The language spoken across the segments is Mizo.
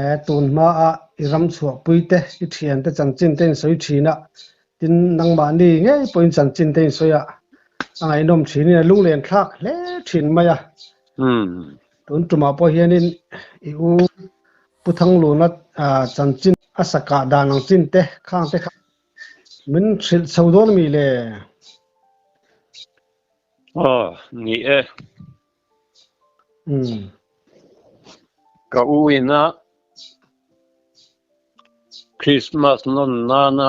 E, tun hmaah i ram chhuahpui te, i thian te chanchin te in sawi thin a, tin nangmah ni ngei pawhin chanchin te in sawi a, a ngaihnawm thinin a lunglen thlak hle thin mai a. Tun tumah pawh hianin i u Pu Thangluna chanchin a sakah dan ang chin te, khang te kha min hrilh chho dawn a mi le? Aw, ni e. Ka u ina Christmas nawn nana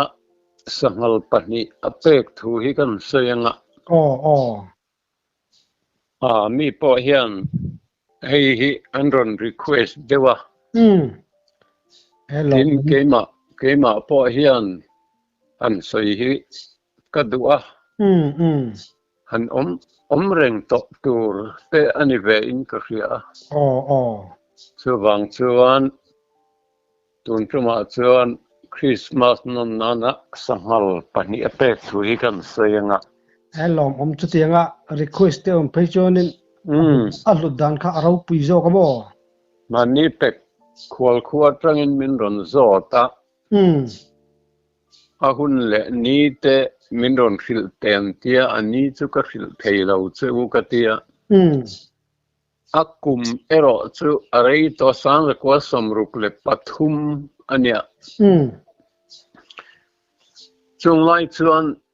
sanghal pahnih a pek thu hi kan sawi anga mi pawh hian hei hi an rawn request deuh a, tin keimah pawh hian an sawi hi ka duh a, han awm awm reng tawh tur te a ni ve in ka hria a, chuvang chuan tun tumah chuan Christmas nawn nan a sanghal pahnih a pek thu hi kan sawi anga. He lawm awm chutiang a request te awm phei chuan in a hlut dan kha a ropui zawk a maw? Mahni pek khual khu atang in min rawn zawt a. A hun leh ni te min rawn hrilh teng tia a ni chu ka hrilh thei lo che u ka ti a. A kum erawh chu a rei tawh Sangrekua Sawmruk leh pathum a nia. Chunglai chuan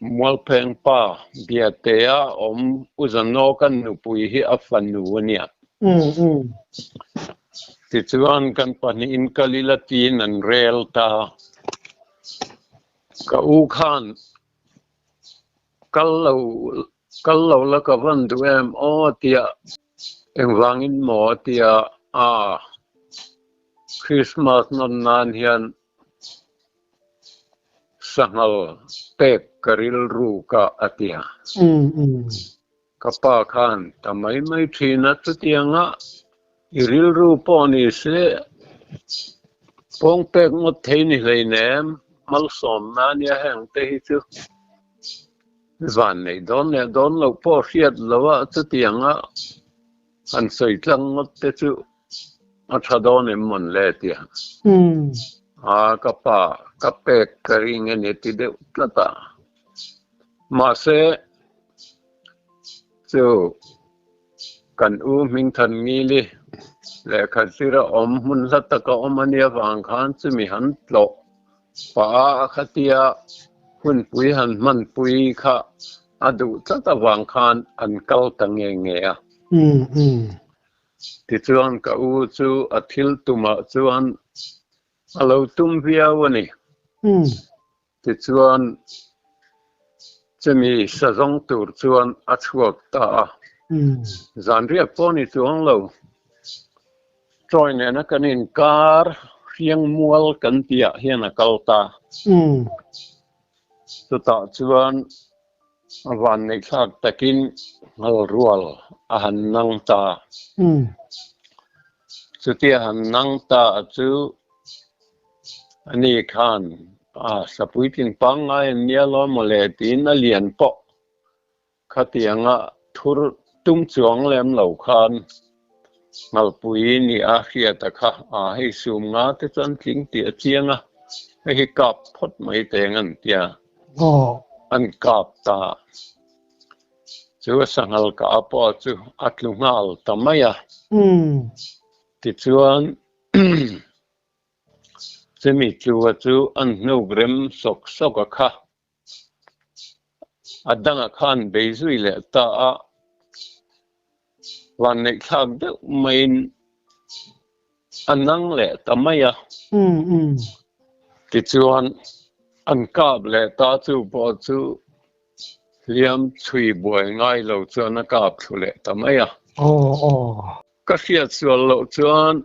Mualphengpa Biatea awm U Zanoka nupui hi a fanu a nia. Tichuan kan pahnihin ka lila tiin an rel ta. Ka u khan kal lo kal lo la ka van duh em aw tia engvangin maw a tia a Christmas nawn nan hian Sanghal pek ka rilru ka a ti a. Ka pa khan ta mai mai thin a chutiang a i rilru pawh ni se pawng pek ngawt thei ni hlein em malsawm na nia heng te hi chu van nei dawn leh dawn loh pawh hriat lo a chutiang a An sawi tlang ngawt te chu a tha dawn em mawn le tia a ka pa ka pek ka ring a ni ti deuh tlat a, mahse chu kan u Hmingthan Ngili lehkha zira awm hmun hla taka awm a nia vang khan chumi han tlawh. Pa'a a khati a, hunpui han hmanpui kha a duh tlat avang khan an kal ta nge nge a. Tichuan ka u chu a thil tumah chuan a lo tum viau a ni. Tichuan chumi sa zawng tur chuan a chhuak ta a, zan riak pawh a ni chuang lo. Troy nena kan inkar, hriang mual kan tihah hian a kal ta. Chutah chuan vanneihthlak takin hngalrual a han nang ta. Chuti a han nang ta chu ani khan, Sapuitlin pangngai an nia law mawle, tiin a lian pawh Khatianga thur tum chuang lem lo khan Ngalpui nih a hriat a kha a, hei sum nga te chuan tling tih a chiang a, hei hi kap phawt mai teng an tia an kap ta. Chu a sanghal ka a pawh chu a tlu nghal ta mai a. Tichuan chumi tlua chu an hnuk rem sawk sawk a kha. A dangah khan beizui leh ta a vanneihthlak deuh maiin a nang leh ta mai a. Tichuan an kap leh ta chu pawh chu hliam chhui buai ngai lo chuan a kap thlu leh ta mai a. Ka hriat sual loh chuan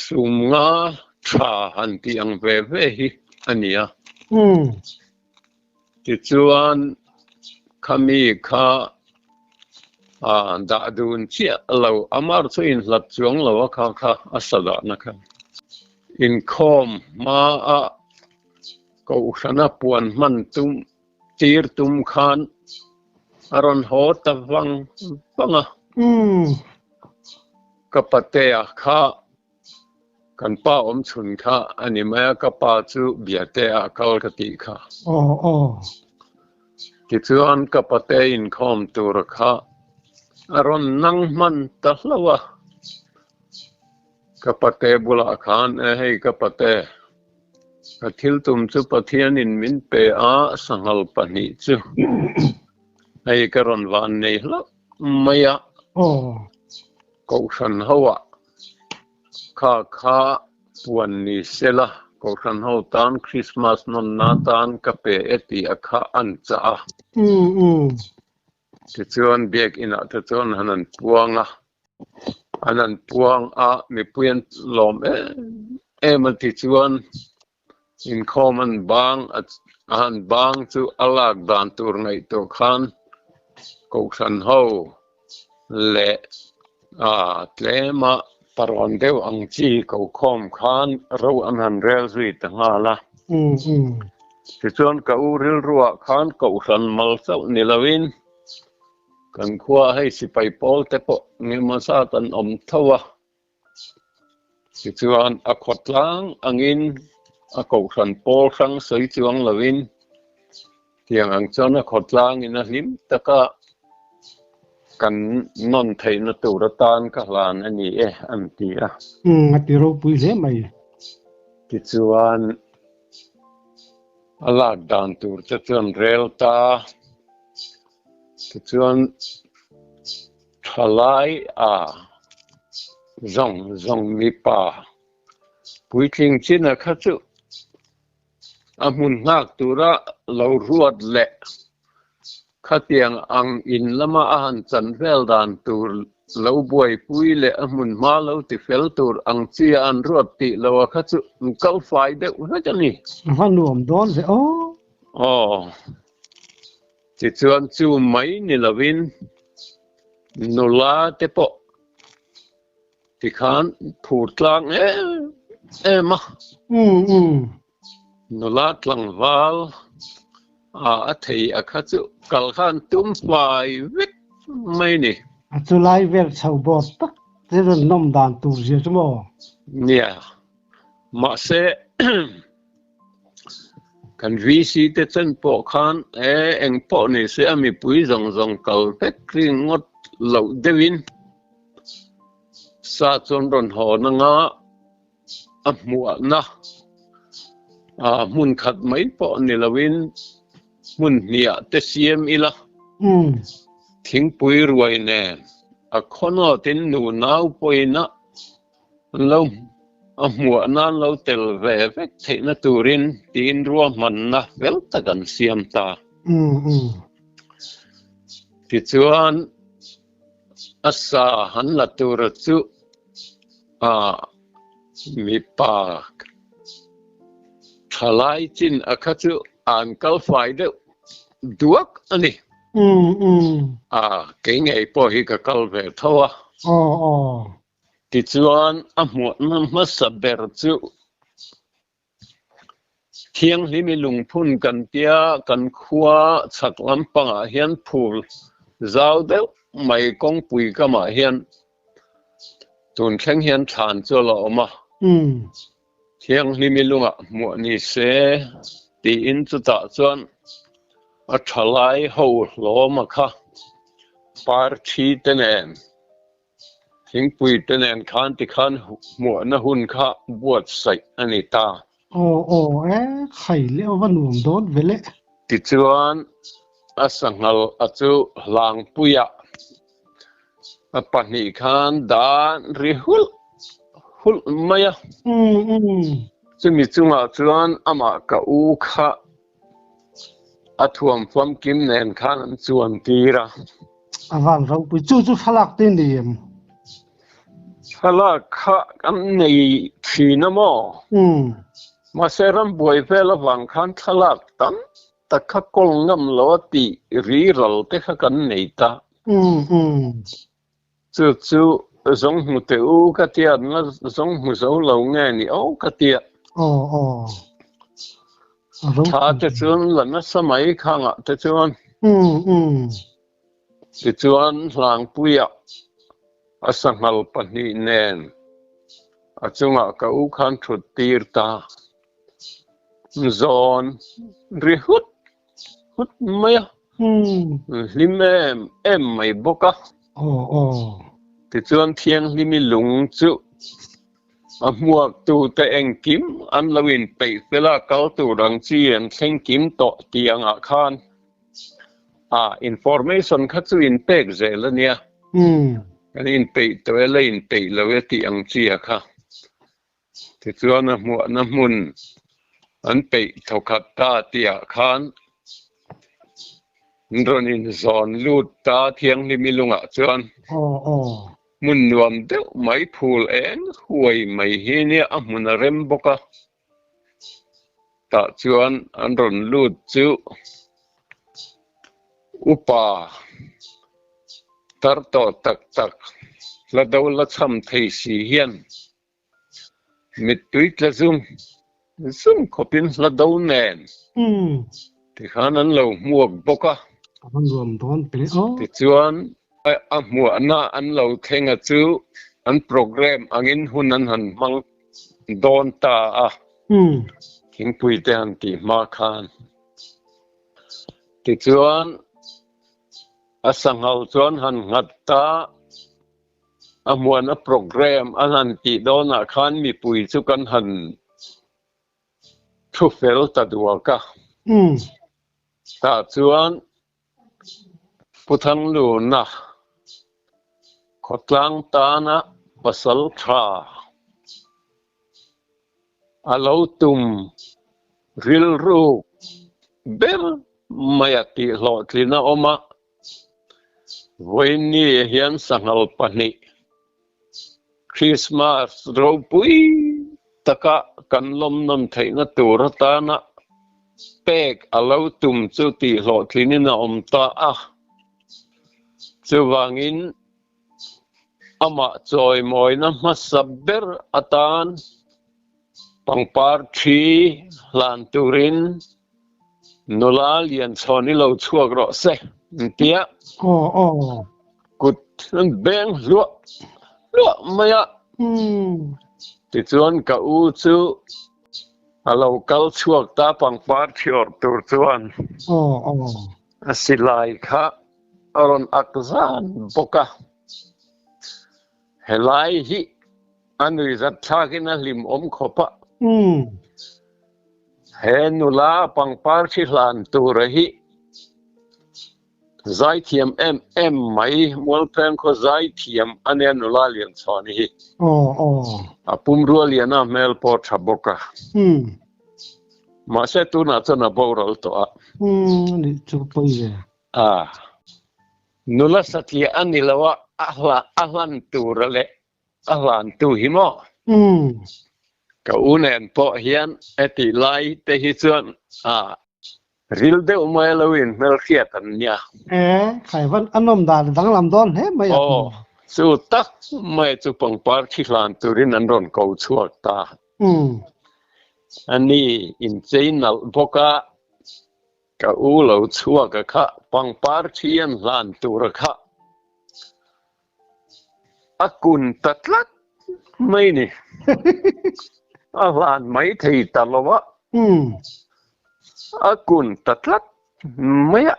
sumnga tha han tih ang ve ve hi a nia. Tichuan khami kha dah dun chiah lo, a mar chu inhlat chuang lo a kha kha a sa dahna kha. Inkhawm hmaah Kohhran a puan hman tum Tir tum khan a rawn haw ta vang vang a. Ka patea kha kan pa awm chhun kha a ni mai a, ka pa chu Biate a kal ka tih kha. Tichuan ka pate inkhawm tur kha a rawn nang hman ta hlauh a. Ka pate bulah khan, Hei ka pate. A thil tum chu Pathian in min pe a sanghal pahnih chu hei ka rawn van nei hlauh mai a Kohhran ho ah kha kha puan ni se la Kohhran ho tan Christmas nawn na tan ka pe e tih a kha an chah a. Tichuan biak inah te chuan han an puang a, an han puang a mipui an lawm em em a tichuan inkhawm an bang a a han bang chu a lak dan tur ngaih tur khan Kohhran ho leh A tlem a, parawn deuh ang chi ko khawm khan ro an han rel zui ta nghal a. Tichuan ka u rilruah khan kohhran mal chauh ni loin kan khuaa hei sipai pawl te pawh ngemawzat an awm tho a. Tichuan, a khawtlang angin a kohhran pawl hrang sawi chuang loin tiang ang chuan a khawtlangin a hlim taka kan nawn theihna tur atan ka hlan a ni e, an ti a. Umm, a ti ropui hle mai. Tichuan, a lak dan tur te chuan rel ta. Tichuan. Thalai a zawng zawng mipa puitling china kha chu a hmun nghak tura lo ruat leh khatiang ang in lama a han chan vel dan tur lo buaipui leh a hmun hma lo ti fel tur ang chi a an ruat tih lo a kha chu an kal fai deuh hlek a ni. Ka hmannuam dawn ve aw. Aw. Tichuan chu mai ni lovin nula te pawh tikhan phur tlang em em a. U u. Nula tlangval a a thei a kha chu kal khan tum fai vek mai ni. A chu lai vel chho bawt tak te rawn nawm dan tur zia chu maw? Nia. Mahse Kan VC te chen pawh khan eh eng pawh ni se a mipui zawng zawng kal vek ringawt loh deuhin sa chuan rawn hawn anga a hmuahna ah hmun khat mai pawh ni loin hmun hniah te siam ila thingpui ruai nen a khawnawtin nunau pawina An lo a hmuah na an lo tel ve vek theihna turin tiin ruahmanna fel tak an siam ta. Tichuan a sa han la tur chu a mipa thalai chin a kha chu an kal fai deuh duak a ni. A kei ngei pawh hi ka kal ve tho a. Tichuan a hmuhna hmasa ber chu thianghlim i lungphun kan tia kan khua chhak lampangah hian phur zau deuh mai kawngpui kamah hian tun thleng hian thlan chu a la awm a, thianghlim i lungah hmuh ni se tiin chutah chuan a thalai ho hlawma kha par thi te nen. Thingpui te nen khan tikhan hmuhna hun kha buatsaih a ni ta. Aw aw e, khai leh a va nuam dawn vele. Tichuan a sanghal a chu Hlangpuia a pahnih khan dan ri hulh hulh mai a. Chumi chungah chuan amah ka u kha A thuam famkim nen khan an chuan tir a. A van ropui chu chu thlalak te ni em? Thlalak kha kan nei thin a maw? Umm. Mahse ram buai vel avang khan thlalak tam tak kha kawl ngam lo a tih ri ral te kha kan nei ta. Umm umm. Chu chu zawng hmu teh u ka tia na zawng hmu zo lo nge ni aw ka tia. Aw aw. Tha te chuan la nasa mai khanga te chuan. Um um. Ti chuan hlangpuia a sanghal pahnih nen a chunga ka u khan thut tir ta. Zawn ri hut. hut mai a umm hlim em em mai bawk a aw aw tichuan thianghlimi lung chu a hmuak tu te engkim an lo in peih fel a kal tur ang chi an thleng kim tawh ti ang ah khan a information kha chu in pek zel a nia umm kan in peih tawh e la in peih lo e tih ang chi a kha Tichuan a hmuahna hmun an peih thaw khat ta tihah khan an rawn inzawn lut ta thianghlim i lungah chuan hmun nuam deuh mai phul eng huai mai hi nia a hmun a rem bawk a, tah chuan an rawn lut chu upa tar tawh tak tak la do la chham thei si hian. Mittui tla zum zum khawpin hla do nen tikhan an lo hmuak bawk a, tichuan a hmuahna an lo thlenga chu an programme angin hun an han hmang dawn ta a, Thingpuite han tih hma khan. Tichuan a sanghal chuan han nghat ta. A hmuana programme an han tih dawnah khan mipui chu kan han thu fel ta duak a. Tah chuan Pu Thangluna khawtlang tana pasal tha. a lo tum rilruk ber mai a tih hlawhtlin a awm a, Vawinie hian sanghal pahnih Krismas ropui taka kan lawmnawn theihna tur atana pek a lo tum chu tih hlawhtlinin a awm ta a, chuvangin. Amah chawimawina hmasa ber atan pangpar thi hlan turin nula lianchhawn i lo chhuak rawh se intiah kut an beng hluah hluah mai a. Tichuan ka u chu a lo kal chhuak ta pangpar thi awrh tur chuan a silai kha a rawn ak zan bawk a, helai hi a nui zat thlakin a hlim awm khawp a, he nula pangpar thi hlan tura hi zaithiam em em mai, Mualpheng khaw zaithiam a nia nula lianchhuahna hi, a pum rualiana hmel pawh a tha bawk a, mahse tunah chuan a boral tawh a. A nula satliah a ni lo a, a hla, a hlan tur leh a hlantu hi maw? Umm. Ka u nen pawh hian e tih lai te hi chuan a ril deuh mai a lo in hmel hriat ang nia. E, Khaivan a nawm dan a danglam dawn hle mai ang. Aw, chu tak mai chu pangpar thi hlan turin an rawn ko chhuak ta. Umm. Ani inchei nalh bawk a, Ka u lo chhuak a kha pangpar thian hlan tur a kha a kun ta tlat mai ni a hlan mai thei ta lo a a kun ta tlat mai a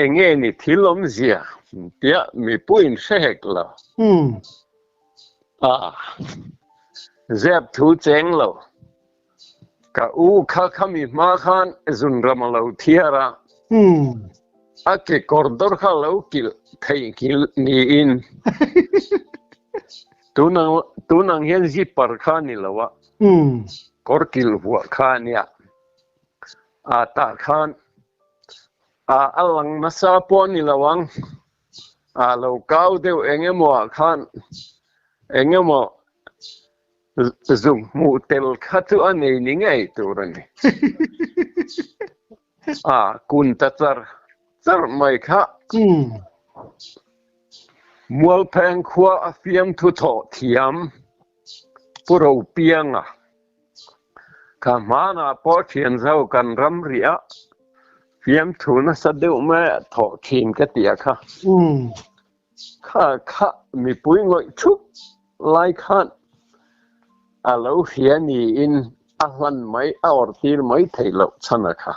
enge ni thil awm zia tia mipuiin hre hek lo a zep thu cheng lo. Ka u kha khami hma khan zun ram a lo thiar a, a kekawr dawr kha lo kilh thei nghilh niin tunang tunang hian zipper kha ni lo a, kawr kilh vuah kha a nia. A tah khan a a lang nasa pawh a ni lo ang. a lo kau deuh eng emawah khan eng emaw zuk hmuh tel kha chu a nei ni ngei tur a ni a kun ta char char mai kha mualpheng khua a fiam thu thawh thiam Pu Ropianga, Ka hmanah pawh thian zo kan ram rih a, fiamthu nasa deuh mai a thawh thin ka ti a kha. Kha khah mipui ngawih thup lai khan a lo hria niin a hlan mai, a awrtir mai thei loh chhan a kha.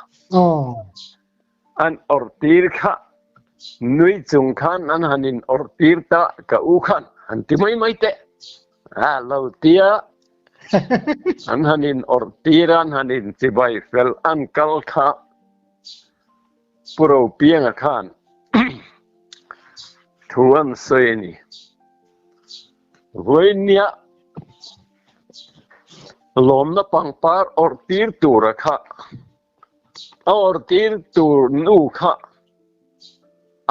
An awrh tir kha nui chung khan an han in awrh tir ta ka u khan han ti mai mai teh a lo tia an han in awrh tir an han in chibai fel an kal kha puro piang a khan thu an sawi a ni voi nia lawmna pangpar awrh tir tur a kha a awrh tir tur nu kha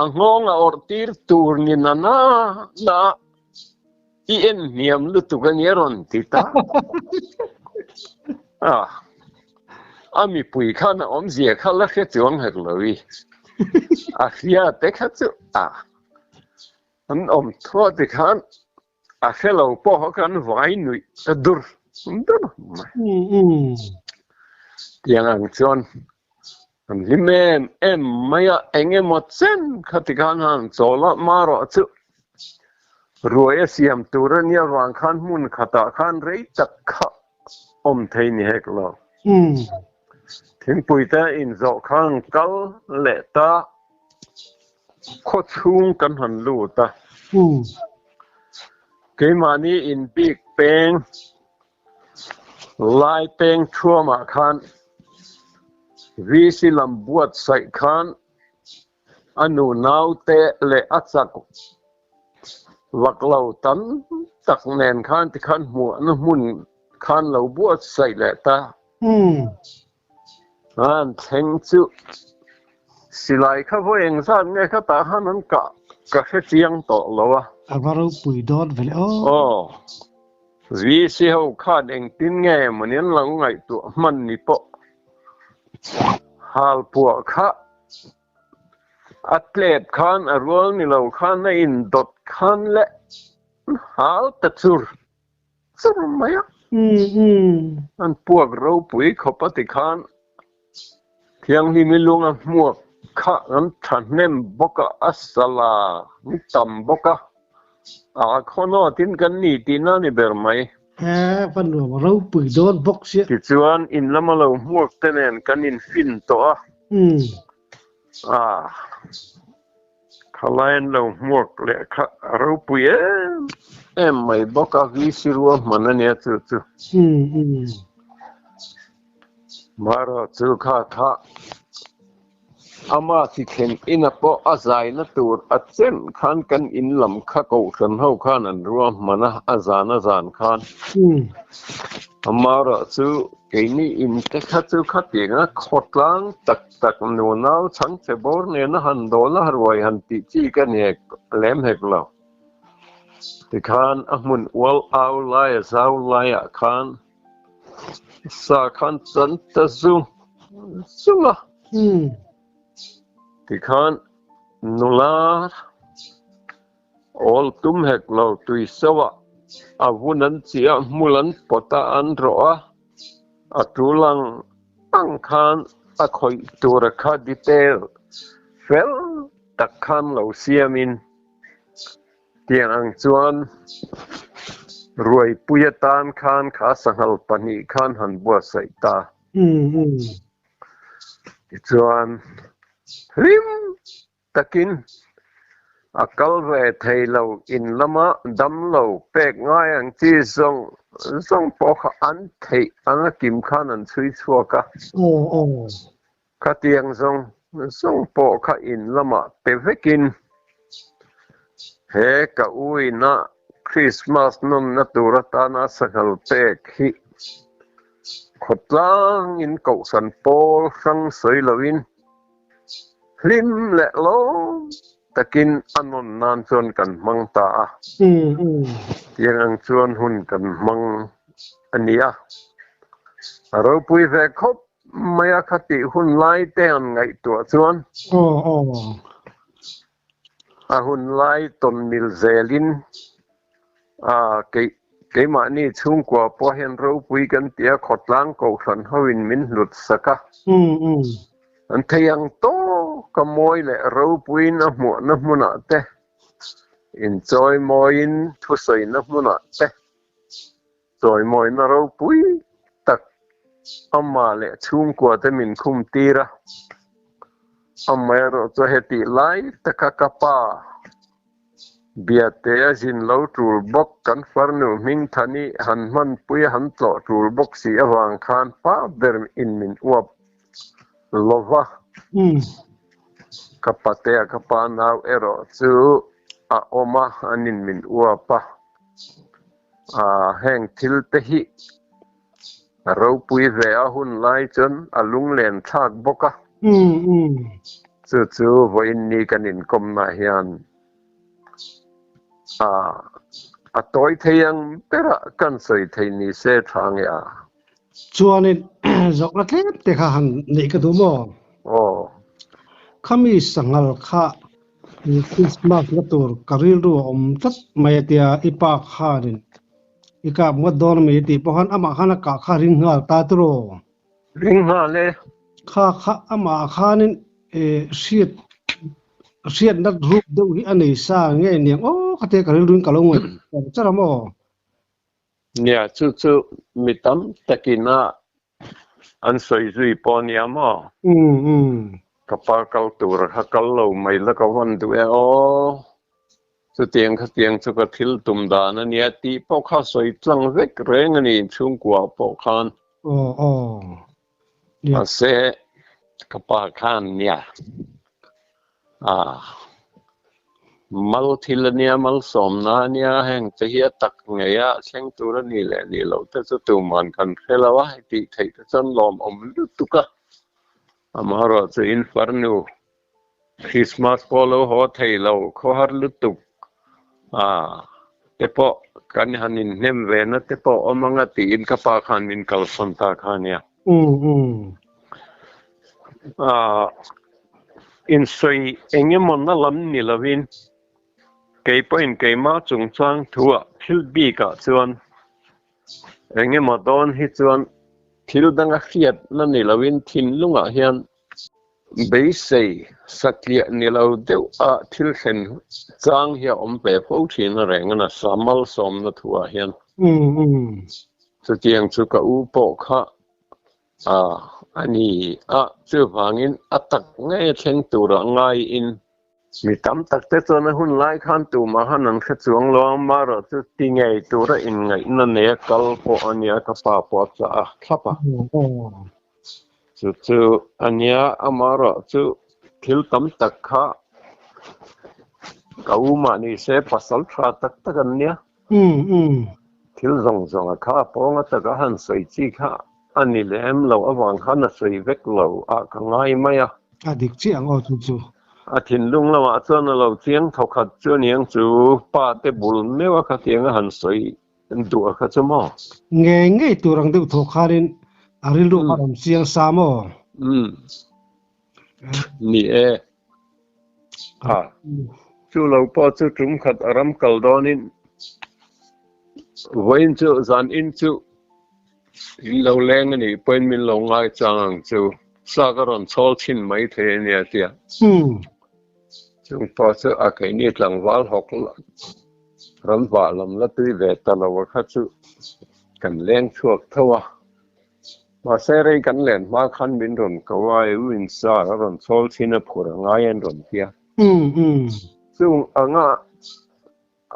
a nghawng a awrh tir tur ni na na na i en hniam lutuk a nia rawn ti ta a a mipui khan a awm zia kha la hre chuang her lo i a hria te kha chu a an awm thuah ti khan a fellow pawh kan vai nuih ta dur dur mai tiang ang chuan kan hlim em em mai a eng emaw chen kha ti khan han chawl a ma rawh chu ruai a siam tur a nia ruang khan hmun khatah khan rei tak kha awm thei ni hek lo thingpui te in zawh khan kal leh ta Khaw chhung kan han lut a, keimahni in bik peng lai peng thuamah khan VC lam buatsaih khan a nunaute leh a chak vaklo tam tak nen khan tikhan hmuhna hmun khan lo buatsaih leh ta. An thleng chu silai kha vawi eng zat nge kha tah khan an kah ka hre chiang tawh lo a. A va ropui dawn ve le aw. Aw. VC ho khan engtin nge emawni an lo ngaihtuah hman ni pawh hal puah kha a tlep khan a rual ni lo khan a indawt khan leh hal ta chur. chum mai a. An puak ropui khawp a tikhan Thianghlim i lung a hmuak kha an thahnem bawk a, a sala an tam bawk a, aa khaw nawt in kan ni tih na ni ber mai. He va nuam ropui dawn bawk sia. Tichuan in lama lo hmuak te nen kan in fin tawh a. Ah, khalain lo hmuak leh kha a ropui em em mai bawk a, VC rua hman a nia chu chu. Marawh chu kha kha ama si thlen ina pawh a zaina tur a chem khan kan in lam kha kohhran ho khan an rua hman a, a zan a zan khan. Marawh chu keini in te kha chu khatianga khawtlang tak. Sak nu nau Chhangche bawr nena han dawn a ruai han tih chi ka ni hek lem hek lo. Tikhan a hmun ual au lai a zau laiah khan sa khan chan ta zung zung a. Tikhan nula. Awl tum hek lo tui sauha a vun an chih a, hmul an pawt a, an rawh a, a ṭu lang ang khan a khawih tura kha detail fel tak khan lo siamin tiang ang chuan Ruaipui atan khan kha sanghal pahnih khan han buatsaih ta tichuan hlim takin a kal ve thei lo in lama damlo pek ngai ang chi zawng zawng pawh kha an theih ang a kim khan an chhui chhuak a, khatiang zawng zawng pawh kha in lamah pe vekin he ka u ina Christmas nawmna tur atana sahngal pek hi khawtlangin kohhran pawl hrang sawi loin, Hlim leh lo takin a nawn nan chuan kan hmang ta a, tiang ang chuan hun kan hmang a ni a. A ropui ve khawp mai a, khatih hun lai te an ngaihtuah chuan. A hun lai tawn mil zel in keimahni chhungkua pawh hian ropui kan tih a, khawtlang kohhran ho in min hlut sak a. An thei ang tawk a mawi leh ropuiin a hmuhna hmunah te, inchawimawin thusawina hmunah te. Chawimawina ropui tak amah leh chhungkuate min khum tir a, amah erawh chu hetih lai taka ka pa Biate a zin lo tul bawk, kan farnu Hmingthani han hmanpui a han tlawh tul bawk si avang khan pah ber in min uap lova, ka patea ka pa nau erawh chu a awm a, an in min uap a. A heng thil te hi a ropui ve a hun lai chuan a lunglen thlak bawk a. Chu chu vawiin ni kan inkawmnah hian a tawi thei ang berah kan sawi thei ni se thlangea. Chuanin zawkna tlem te kha han neih ka duh maw? Aw. Khami sanghal kha Christmas la tur ka rilru a awm tlat mai a tia i pa khanin i kap ngawt dawn a mi tih pawh khan amah khan a kah kha ring nghal ta tur aw. Ring nghal e. Kha kha amah khanin e hriat hriat nat ruk deuh hi a nei sa nge niang aw kha te ka rilruin ka lo ngawi char a maw? Nia, chu chu mi tam takin a an sawi zui pawh nia maw? Umm umm. Ka pa kal tur kha kal lo mai la ka vawn duh e aw. Chutiang khatiang chu ka thil tum dan a nia tih pawh kha sawi tlang vek reng a ni chhungkua pawh khan. Aw aw. Mase kapa khan nia a mal thil ania mal som na ania heng te hi tak ngeia thleng tur ani le ni lo te chu tu man kan hrelo a ti thei te chon lawm awm lutuk a amah rawh chu in farnu Christmas pawh lo haw thei lo, khawhar lutuk ah te pawh kan han inhnem ve na te pawh awm ang a tiin ka pa khan min kalsan ta kha nia. Insawi eng emaw na lam ni lovin kei pawhin keima chungchang thuah thil bikah chuan eng emaw dawn hi chuan thil danga hriat na ni lovin thinlungah hian Beisei satliah ni lo deuh a thil thlen chang hi a awm ve fo thin a reng a na sa malsawmna thu ah hian chutiang chu ka u pawh kha a a ni a chuvangin a tak nge thleng tur ah ngai in Mi tam tak te chuan a hun lai khan tumah han an hre chuang lo a, Mara chu ti ngei tura inngaihna nei a kal pawh a nia, ka pa pawh a chah a thlap a. Chu chu a nia a Mara chu thil tam tak kha ka umah ni se pasal tha tak tak an nia. Thil zawng zawngah kha a pawnga taka han sawi chi kha a ni lem lo avang khan a sawi vek lo a ka ngai mai a. A dik chiah ang aw chu chu. A thinlung lamah chuan a lo chiang thaw khat chu niang chu pa te bul meuh a kha tianga han sawi duah kha chu maw. Ngei ngei tur ang deuh thaw khanin a rilru a rawn chiang sa maw. Ni e. a chu lo pawh chu tum khat a ram kal dawn in vawiin chu zan in chu in lo leng ani pawn min lo ngai chang ang chu sa ka ron chawl chin mai the ania tia hmm. chung pawh chu a kei ni tlang val hawk ram vah lam la tui ve ta lo kha chu kan leng thuak tho a Mahse rei kan len hma khan min rawn ko a, U In Sar a rawn chawl thin a, phur a ngai an rawn ti a. Chung anga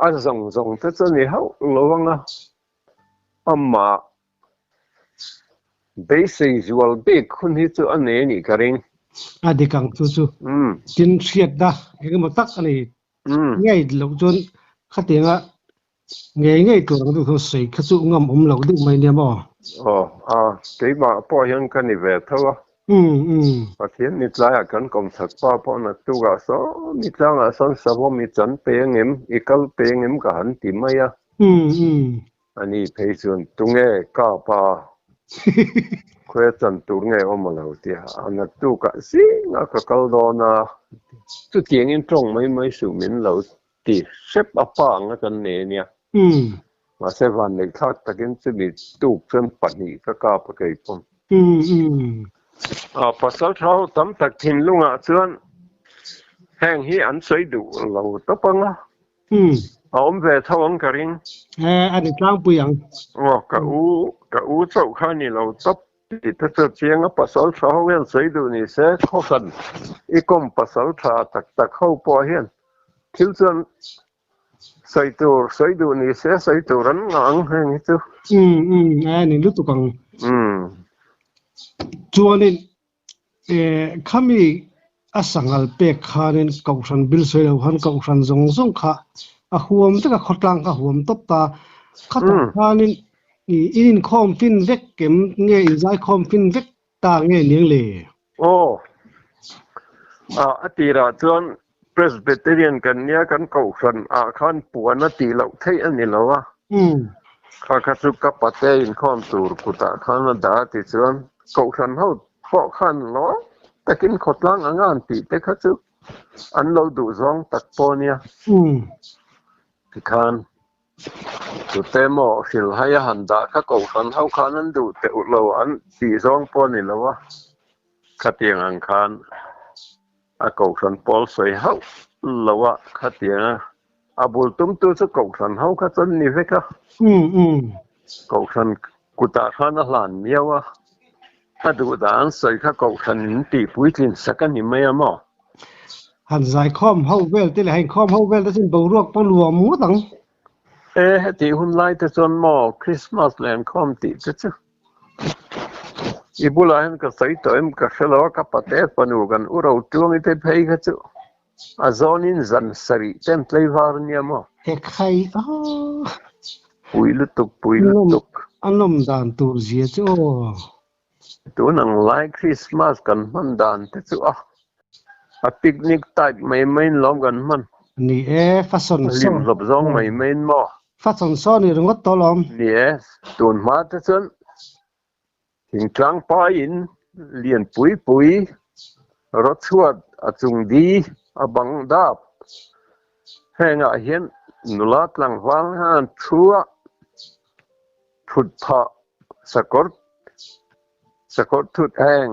a zawng zawng te chu ni hauh lo ang a, amah beisei zual bik hun hi chu a nei a nih ka ring. A dik ang chu chu, tin hriatna engemaw tak a nei ngeih loh chuan khatianga Ngei ngei tur ang deuh hian sawi kha chu ngam awm loh deuh mai nia maw? Aw, a, keimah pawh hian ka ni ve tho a. Umm, umm. Pathian ni tlaiah kan kawmchhak pa pawh na tukah sawmi tlangah sawn savawm i chan peng em, i kal peng em ka han ti mai a. Umm, umm. A ni phei chuan, Tunge, ka pa, khuia chan tur nge awm a lo tia, a na tukah zingah ka kal dawn a, chutiangin tawng mai mai suh min lo Ti hrep a pa ang a kan nei a nia. Mahse vanneih thlak takin chumi tuk chuan pahnih ka kap a kei khawm. Pasal thau tam tak thinlungah chuan heng hi an sawi duh lo tawp ang a, a awm ve tho ang ka ring. A ni tlangpui ang. Aw, ka u, ka u chauh kha a ni lo tawp. Tih te chu chianga pasal tha ho hian sawi duh ni se, khawhran i kawm pasal tha tak tak ho pawh hian thil chuan sawi tur sawi duh ni se, sawi tur an ngah ang heng hi chu. Umm umm, a ni lutuk ang. Umm. Chuanin E, khami a sangal pek khanin Kohhran Bilsawi lo khan Kohhran zawng zawng kha a huam vek a, khawtlang kha huam tawp ta. Khatah khanin i in inkhawm fin vek kem nge, inzaikhawm fin vek ta nge niang le? Aw, a tirah chuan Presbyterian kan nia kan kohhran ah khan puan a tih loh theih a ni lo a, kha kha chu ka pa te inkhawm tur kut ah khan a dah a ti chuan kohhran ho pawh khan lawng takin khawtlang anga an tih te kha chu an lo duh zawng tak pawh nia tikhan. Tute maw hrilh hai a han dah kha kohhran ho khan an duh teuh lo an tih zawng pawh a ni lo a, khatiang ang khan a kohhran pawl sawi hauh lo a, khatianga a bul tum tu chu kohhran ho kha chuan ni vek a, kohhran kutah khan a hlan miau a. A duhdang sawi kha kohhran in tih puitlin sak a ni mai a maw? Han zaikhawm ho vel te leh ha inkhawm ho vel te chuan boruak pawh nuam ngawt ang. E, hetih hunlai te chuan maw Krismas leh an khawm tih te chu? I bulah hian ka sawi tawh em, ka hre lo a, ka pa te panu kan u ro tuang i te phei kha chu. A zawnin zan sarih ten tleivar nia maw? Hekhay aw. Pui lutuk, pui lutuk. A lawm dan tur zia chu aw. Tun ang lai Christmas kan hman dan te chu a. A picnic type mai maiin lawm kan hman. Ni e, fa sawn sawn. Hlim hlawp zawng mai maiin maw? Fa sawn sawn i ringawt tawh lawm. Ni e, tun hma te chuan Thing tlang paiin lian pui pui, rotchhuat a chung di, a bang dap. Hengah hian nula tlangval han thu a, phut phah sakawr sakawr thut heng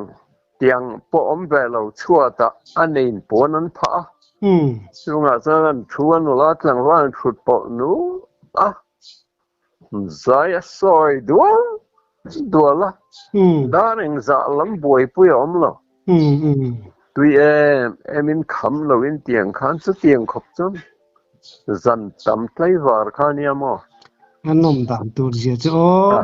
tiang pawh awm ve lo chhuatah a nein puan an phah a. Chungah chuan an thu a, nula tlangval an phut pawh nu a, Zai a sawi dual dual a, dan engzah lam buaipui a awm lo. Tui em emin kham lo in ti ang khan chutiang khawp chuan zan tam tlaivar kha nia maw? A nawm dan tur zia chu aw.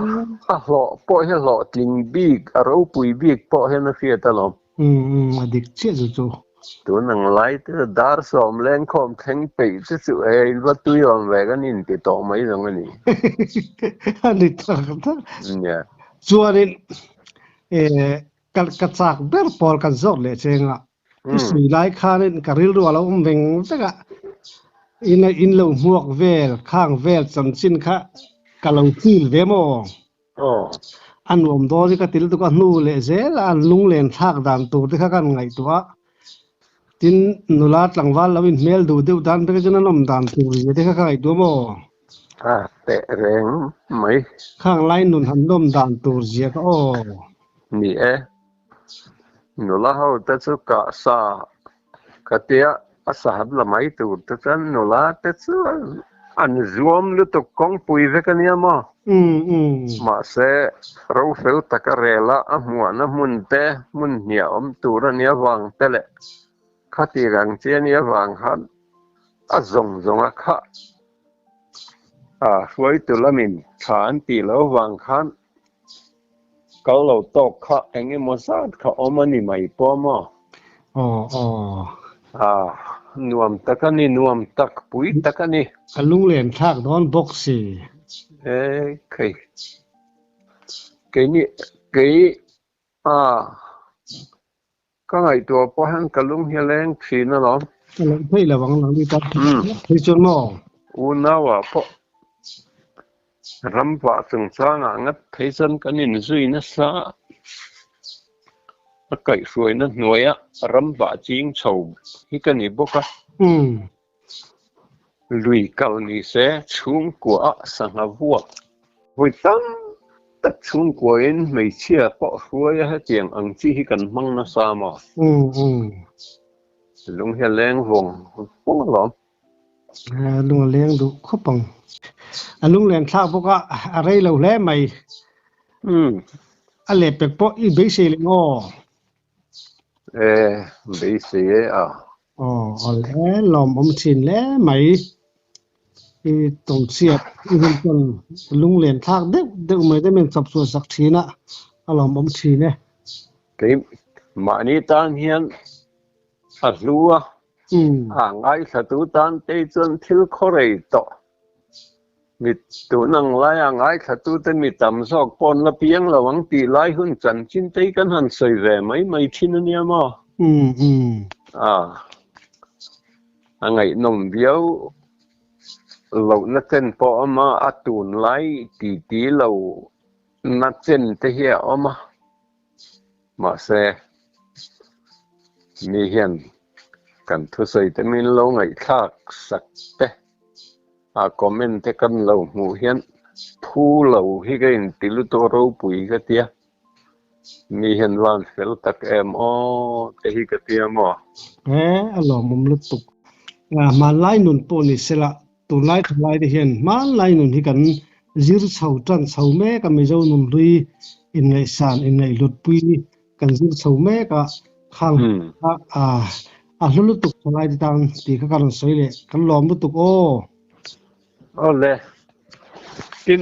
A hlawh pawh hi hlawh tling bik, a ropui bik pawh hian a hriat alawm. Umm umm a dik chiah chu chu. Tun ang lai te chu dar sawm leng khawm thleng peih chu chu e rilva tui awm ve kan in ti tawh mai zawng a ni. A ni tak tak. Nia. Chuanin e ka ka chak ber pawl kan zawt leh cheng a i sawi lai khanin ka rilru a lo awm veng vek a in a in lo hmuak vel khang vel chanchin kha ka lo chil ve maw? A nuam dawn i ka ti lutuk a, hnu leh zela an lunglen thlak dan tur te kha ka rawn ngaihtuah a, tin nula tlangval lo inhmel duh deuh dan vek chuan an awm dan tur ri ve te kha ka ngaihtuah maw? Ka teh reng mai. Khanglai nun han lawm dan tur zia ka aw. Ni e. Nula ho te chu kah sa ka tia a sahab la mai tur te chuan nula te chu an zuam lutuk kawngpui vek ania maw mahse rofel tak a rel a a hmuahna hmun te hmun hniah awm tur a nia vang te leh khatir ang chi a nia vang khan a zawng zawng a khah a hruai tu lamin tha an tih lo vang khan Kal lo tawk kha eng emaw zat kha awm a ni mai pawh maw? Aw aw. Ah, nuam tak a ni, nuam tak, pui tak a ni. A lunglen thlak dawn bawk si. E, kei. Kei ni, kei, ah, Ka ngaihtuah pawh hian ka lung hi a leng thin a lo. Ka loh theih lo ang lo ni tak hian ka phei chuan maw? Unaua pawh ram vah chungchangah ngat phei chuan kan inzui nasa a, a kaihhruaina hnuaiah ram vah ching chho hi ka ni bawk a. Lui kal ni se chhungkuaah sangha vuak hawi tam tak chhungkuain hmeichhia pawh hruaia hetiang ang chi hi kan hmang nasa maw? Lung hi a leng vawng vawng alawm. A lung a leng duh khawp ang. A lung len thlak bawk a, a rei lo hle mai. A leh pek pawh i beisei leh maw? e beisei e a aw awlh hlawm awm thin hle mai i tawngchiat i hun chuan lunglen thlak deuh deuh mai te men chawp chhuah sak thin a a lawm awm thin e kei mahni tan hian a hlua a ngai thla tu tan te chuan thil khaw rei tawh Mit tun ang laia ngaithlatute'n mi tam zawk pawn la piang lo ang tih lai hun chanchintei kan han sawi ve mai mai thin a nia maw? Ah, a ngaihnawm viau lohna chen pawh a awm a, a tunlai titi lohna chente hi a awm a. Mahse, mi hian kan thusawi te min lo ngaihthlak sak te a comment te kan lo hmuh hian thu lo hi ka in ti lut aw ropui ka tia mi hian van fel tak em aw te hi ka tia maw. He a lawmawm lutuk. Aa hmanlai nun pawh ni sela Tunlai thalai te hian hmanlai nun hi kan zir chho tan chho mek a, Mizo nunhlui inngaihsan, inngaihluatpui kan zir chho mek a, khang a a a hlu lutuk thalai te tan tih kha ka rawn sawi leh kan lawm lutuk aw. Awle tin